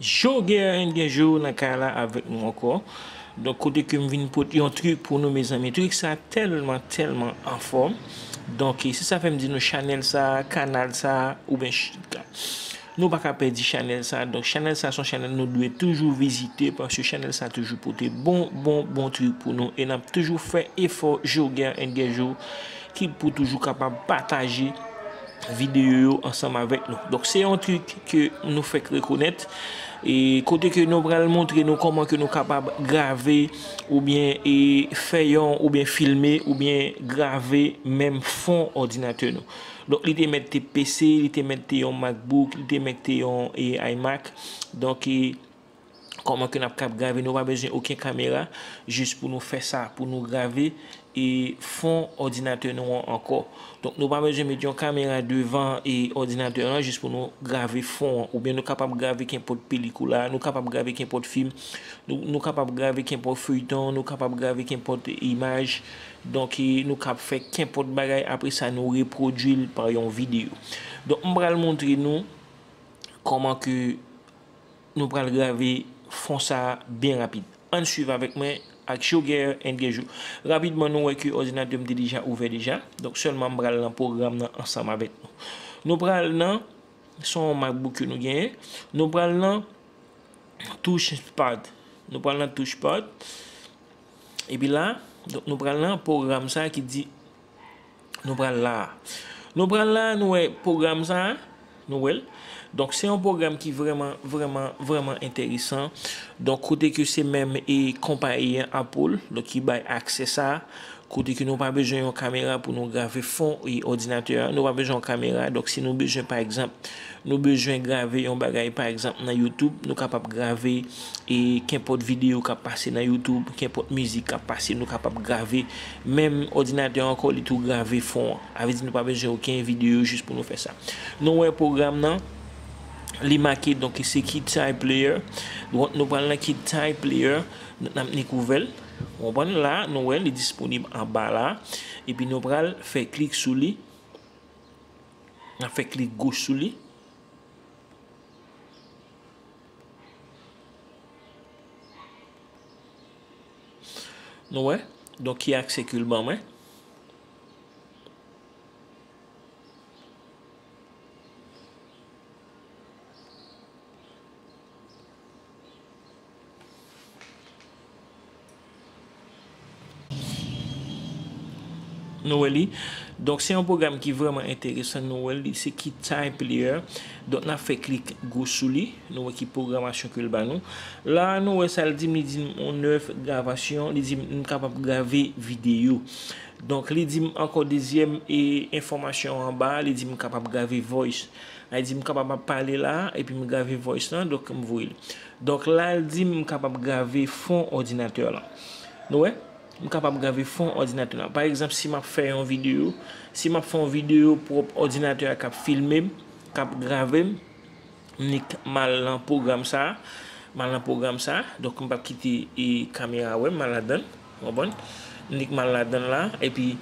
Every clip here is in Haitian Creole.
Jogeren gen jou nan kay la avèk nou ankò donk kote ke m vin pot yon trik pou nou mezanmi trik sa tèlman tèlman anfòm donk se sa fèm di nou chanèl sa kanal sa oubyen nou pa ka pèdi chanèl sa donk chanèl sa son chanèl nou dwe toujou vizite paske chanèl sa toujou pote bon bon bon trik pou nou e nap toujou fè efò Jogeren gen jou ki pou toujou kapab pataje videyo yo ansanm avèk nou. Donk se yon trik ke nou fèk rekonèt e kote ke nou pral montre nou kòman ke nou kapab grave oubyen e fè yon oubyen filme oubyen grave menm fon òdinatè nou. Donk li te mèt te PC, li te mèt te yon MacBook, li te mèt te yon e iMac. Donk e. Koman ke nap kap grave nou pa bezwen oken kamera jis pou nou fè sa pou nou grave e fon òdinatè nou an ankò. Donk nou pa bezwen met yon kamera devan e òdinatè an jis pou nou grave fon an. Oubyen nou kapab grave kenpòt pelikula, nou kapab grave kenpòt fim, nou kapab grave kenpòt feyton, nou kapab grave kenpòt imaj. Donk e nou kap fè kenpòt bagay apre sa nou repwodui l pa yon videyo. Donk m pral montre nou koman ke. Nou pral grave fon sa byen rapid. Ann swiv avèk mwen ak Joger and Guerjou. Rapidman nou wè ke òdinatè m te deja ouvè deja. Donk sèlman m pral nan pwogram nan ansanm avèk nou. Nou pral nan, se yon MacBook ke nou genyen, nou pral nan touche pad. Nou pral nan touche pad. Epi la, nou pral nan pwogram sa ki di. Nou pral la a. Nou pral la a, nou wè pwogram sa a. Nou wè l. Donk, se yon pwogram ki vrèman, vrèman, vrèman enteresan. Donk, kote ke se menm e konpayi an, Apple, donk ki bay aksè sa a. Kote ke nou pa bezwen yon kamera pou nou grave fon e odinatè a. Nou pa bezwen yon kamera. Donk, si nou bezwen, pa egzanp, Nou bezwen grave yon bagay pa egzanp nan youtube nou kapab grave e kenpòt video kap pase nan youtube kenpòt mizik kap pase nou kapab grave menm òdinatè ankò li tou grave fon an avè di nou pa bezwen oken video jis pou nou fè sa nou wè pwogram nan li make donk se KidType player donk nou pral nan KidType player nap nik ouvèl ou konprann la nou wè li disponib anba la epi nou pral fè klik sou li. Nap fè klik goch sou li. Nou wè. Donk ki aksè ke l ban mwen. Nou wè li. Donk se yon pwogram ki vreman enteresan. Nou wè li se ki time player. Donk na fè klik gwo sou li. Nou wè ki pwogramasyon ke l ba nou. La a nou wè sa l di m li di m on oeuvre de gravation. Li di m m kapab grave videyo. Donk li di m ankò dezyèm e enfòmasyon anba a li di m kapab grave voice. A li di m kapab ap pale la a epi m grave voice lan donk m voye l. Donk la l di m m kapab grave fon òdinatè lan. Nou wè? M kapab grave fon òdinatè lan. Pa egzanp si m ap fè yon videyo, si m ap fè yon videyo pwòp òdinatè a k ap filme m, k ap grave m, m nik m al nan pwogram sa a, m al nan pwogram sa a, donk m p ap kite kamera wè m, m al ladan l. Ou konprann? Nick mal ladan l la, epi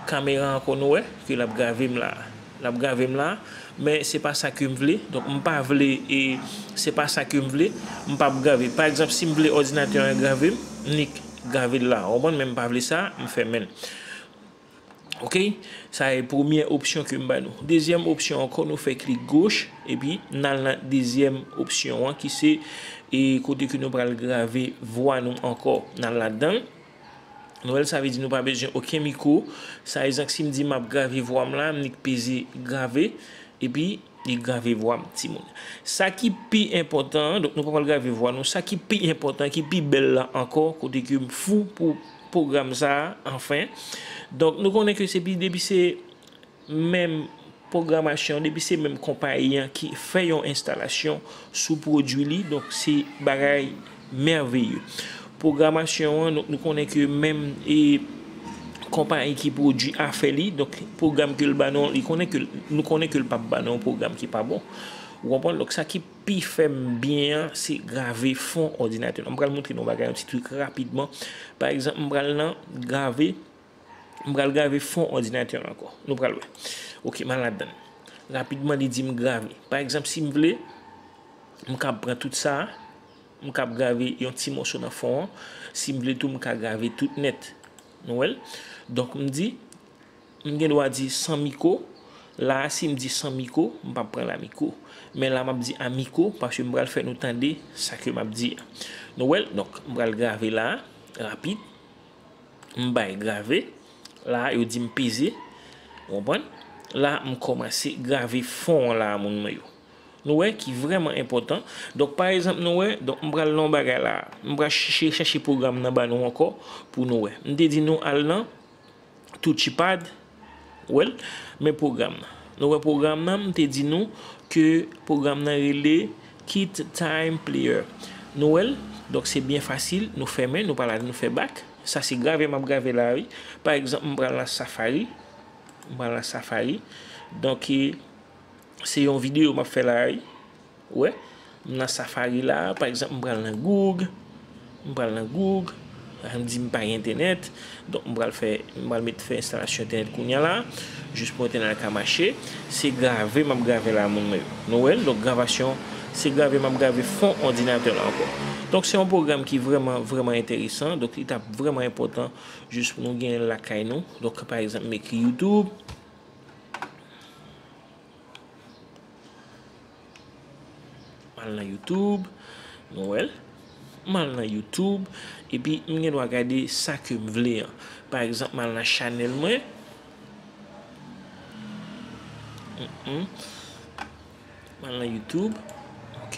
kamera an konn wè ke l ap grave m la. L ap grave m la, men se pa sa ke m vle. Donk m pa vle e se pa sa ke m vle, m p ap grave. Pa egzanp, si m vle òdinatè an grave m, Nick grave l la. Ou konprann? Men m pa vle sa, m fèmen l. Ok sa e premye opsyon ke m ba nou. Dezyèm opsyon ankò nou fè klik goch epi n al nan dezyèm opsyon an ki se e kote ke nou pral grave vwa nou ankò n al ladan l. Nou wè l sa vle di nou pa bezwen oken mikwo sa egzank si m di m ap grave vwa m la m nik peze grave epi. Li grave vwa m ti moun. Sa ki pi enpòtan an, donk nou pa pral grave vwa nou, sa ki pi enpòtan, ki pi bèl la ankò, kote ke m fou pou pwogram sa a, anfen. Donk nou konnen ke se pi, depi se menm pwogramasyon, depi se menm konpayi an ki fè yon enstalasyon sou pwodui li, donk se bagay. Merveilleux. Programasyon an, donk nou konnen ke menm e konpayi ki pwodui a fè li, donk pwogram ke l ba nou an, li konnen ke, nou konnen ke l p ap ba nou yon pwogram ki pa bon. Ou konprann? Donk sa ki pi fè m byen an, se grave fon òdinatè lan. M pral montre nou yon bagay, yon ti trik rapidman. Pa egzanp, m pral nan grave, m pral grave fon òdinatè lan ankò. Nou pral wè. Ok, m al ladan l. Rapidman li di m grave. Pa egzanp, si m vle, m kab pran tout sa a. M kab grave yon ti moso nan fon an. Si m vle tou, m ka grave tout nèt. Nou wè l? Donk m di, m gen dwa di san miko. La a, si m di san miko, m pa p pran l a miko. Men la m ap di a miko, paske m pral fè nou tande sa ke m ap di a. Nou wè l? Donk, m pral grave la a, rapid. M bay grave. La a, yo di m peze. Ou konprann? La a, m kòmanse grave fon an la a, moun mwen yo. Nou wè, ki vrèman enpòtan. Donk, pa ezanp, nou wè, donk, m pral nan yon bagay la a. M pral chèche, chèche pwogram nan ba nou ankò pou nou wè. M te di nou al nan Touchipad, wè l, men pwogram nan. Nou wè pwogram nan, m te di nou ke pwogram nan rele QuickTime Player. Nou wè l? Donk, se byen fasil, nou fèmen, nou pa la, nou fè bak. Sa se grave m ap grave la a, wi. Pa egzanp, m pral nan Safari. M pral nan Safari. Donk. Se yon video map fè la wi. Ou wè? M nan safari la, pa egzanp m pral nan goug, m pral nan goug, an di m pa gen entènèt, donk m pral fè, m pral met fè enstalasyon entènèt kounya la, jis pou entènèt la ka mache, se grave map grave la moun mwen yo. Nou wè? Donk gravasyon, se grave map grave fon òdinatè la ankò. Donk se yon pwogram ki vrèman, vrèman enteresan, donk li tap vrèman enpòtan jis pou nou genyen l lakay nou, donk pa egzanp m ekri youtube. Mal nan YouTube. Nou wèl. Mal nan YouTube. E pi m gen dwa gade sa ke m vle an. Pa egzanp mal nan chanèl mwen. Mal nan YouTube. Ok.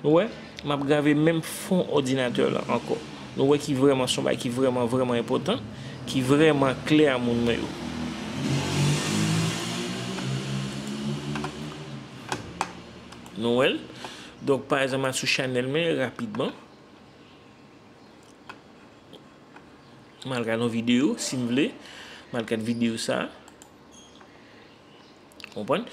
Nou wè? M ap grave menm fon òdinatè lan ankò. Nou wè ki vrèman s on bagay ki vrèman vrèman enpòtan, ki vrèman klè a moun mwen yo. Nou wè l? Donk, pa egzanp, m al sou chanèl mwen rapidman. M al gad yon videyo, si m vle. M al gad videyo sa a. Konprann?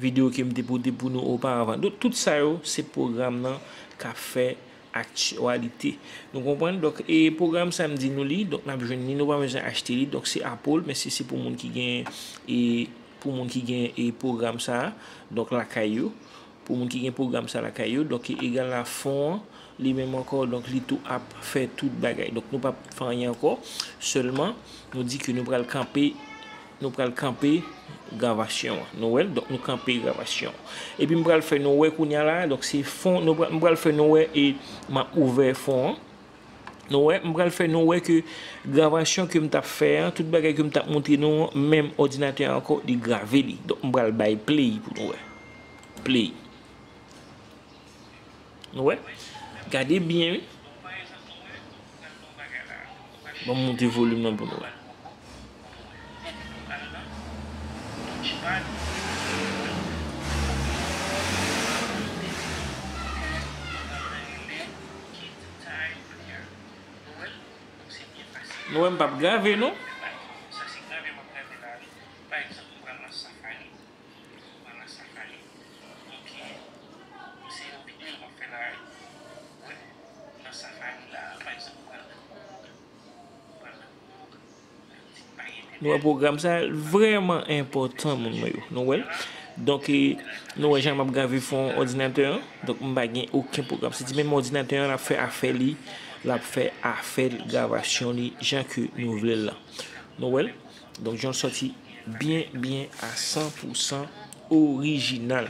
Video kem te pote pou nou oparavan. Donk tout sa yo se pwogram nan kap fè aktyalite. Nou konprann? Donk e pwogram sa m di nou li, donk nap jwenn li, nou pa bezwen achte li. Donk se Apple, men se se pou moun ki gen e pou moun ki gen e pwogram sa a, donk lakay yo. Pou moun ki gen pwogram sa lakay yo, donk egal la fon an li menm ankò, donk li tou ap fè tout bagay. Donk nou pap fè anyen ankò, sèlman nou di ke nou pral kanpe, nou pral kanpe gravasyon an. Nou wè l, donk nou kanpe gravasyon an. Epi m pral fè nou wè kounye a la, donk se fon, nou pral, m pral fè nou wè e m ap ouvè fon an. Nou wè, m pral fè nou wè ke gravasyon ke m t ap fè an, tout bagay ke m t ap montre nou an, menm òdinatè a ankò li grave li. Donk m pral bay play pou nou wè. Pli. Nou wè? Gade byen wi. Ban m moute volim nan pou nou wè. Nou wè m pa p grave non. Nou wè pwogram sa l vrèman enpòtan moun mwen yo. Nou wè l. Donk e nou wè jan m ap grave fon òdinatè an. Donk m pa gen oken pwogram. Se di menm òdinatè an l ap fè afè li. L ap fè afè l gravasyon li jan ke nou vle l lan. Nou wè l. Don John soti byen byen a san pou san orijinal.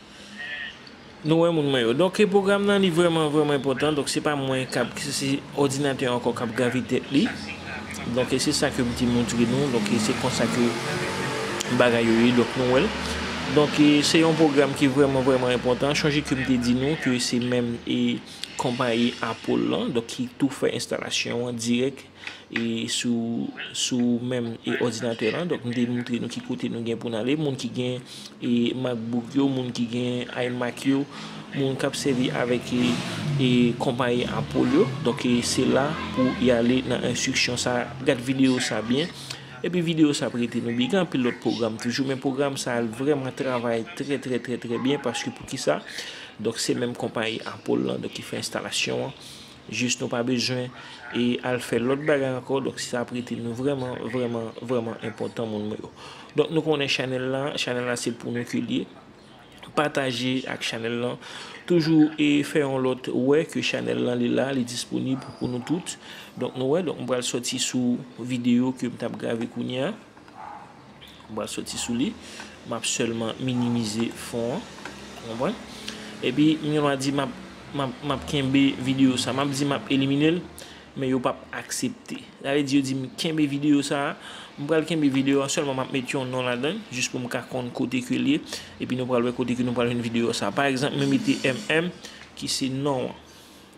Nou wè moun mwen yo. Donk pwogram nan li vrèman vrèman enpòtan. Donk se pa mwen kap se òdinatè an ankò kap grave tèt li. Donk e se sa ke m te montre nou. Donk e se konsa ke bagay yo ye. Donk nou wè l. Donk e se yon pwogram ki vrèman vrèman enpòtan. Chonje ke m te di nou ke se menm e konpayi Apple lan. Donk ki tou fè enstalasyon an dirèk. e sou menm òdinatè lan donk m te moutre nou ki kote nou gen pou n ale moun ki gen e macbook yo moun ki gen imac yo moun kap sèvi avèk e konpayi apple yo donk e se la pou y ale nan enstriksyon sa gad videyo sa byen epi videyo sa ap rete nou byen gen anpil lòt pwogram toujou men pwogram sa l vrèman travay trè trè trè trè byen paske poukisa donk se menm konpayi apple lan donk ki fè enstalasyon an. Jis nou pa bezwen e al fè lòt bagay ankò donk sa ap rete nou vrèman vrèman vrèman enpòtan moun mwen yo donk nou konnen chanèl la chanèl la se pou nou ke li ye pataje ak chanèl lan toujou e fè yon lòt wè ke chanèl lan li la li disponib pou nou tout donk nou wè donk m pral sòti sou videyo ke m tap grave kounya. M pral soti sou li. M ap sèlman minimize fon an. Ou konprann? Epi, m gen dwa di m ap, m ap, m ap kenbe videyo sa a. M ap di m ap elimine l, men yo pap aksepte. Sa vle di yo di m kenbe videyo sa a. M pral kenbe videyo a, sèlman m ap met yon non ladan l, jis pou m ka konn kote ke l ye. Epi nou pral wè kote ke nou pral jwenn videyo sa a. Pa egzanp, mwen mete MM, ki se non an.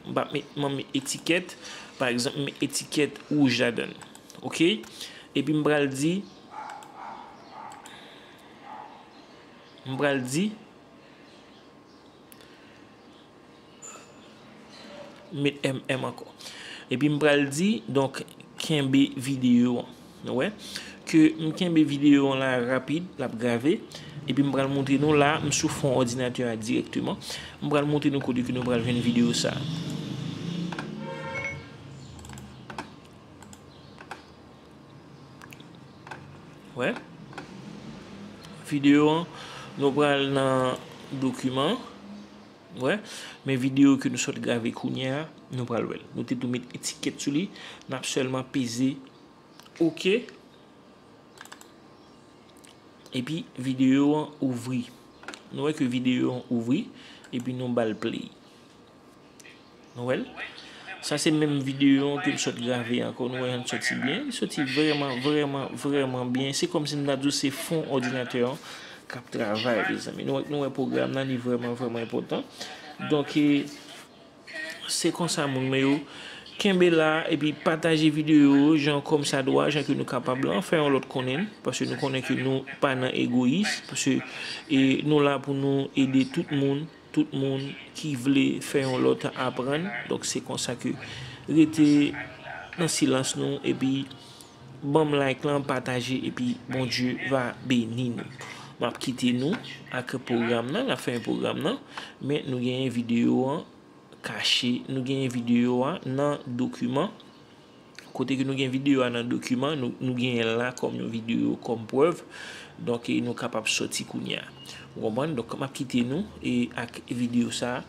M pa met m met etikèt. Pa egzanp m met etikèt wouj ladan l. Ok. Epi m pral di. M pral di. M met MM ankò. Epi m pral di. Donk kenbe videyo an. Nou wè ke m kenbe videyo an la rapid, l ap grave, epi m pral montre nou la, m sou fon òdinatè a dirèkteman, m pral montre nou kote ke nou pral jwenn videyo sa a. Wè? Videyo an, nou pral nan dokiman, wè? Men videyo ke nou sot grave kounye a, nou pral wè l. Nou te tou met etikèt sou li, n ap sèlman peze. Ok. Epi video an ouvri. Nou wè ke video an ouvri. Epi nou bal play. Nou wè l. Sa se menm video an ke m sot grave an. Kon nou wè an soti byen. Soti vreman, vreman, vreman byen. Se kom si m ta di w se fon odinatè an kap travay. Nou wè program nan li vreman, vreman epotan. Donke. Se konsa moun mwen yo, kenbe la epi pataje videyo jan kòm sa dwa, jan ke nou kapab lan, fè yon lòt konnen n, paske nou konnen ke nou pa nan egoyis, paske nou la pou nou ede tout moun, tout moun ki vle fè yon lòt aprann, donk se konsa ke rete nan silans nou epi. Banm like lan pataje epi Bondye va beni nou map kite nou ak program nan la fen program nan men nou genyen video an kache nou genyen video a nan dokiman kote ke nou gen video a nan dokiman nou genyen la kòm yon video kòm prèv donk nou kapab soti kounya ou konprann donk map kite nou e ak video sa.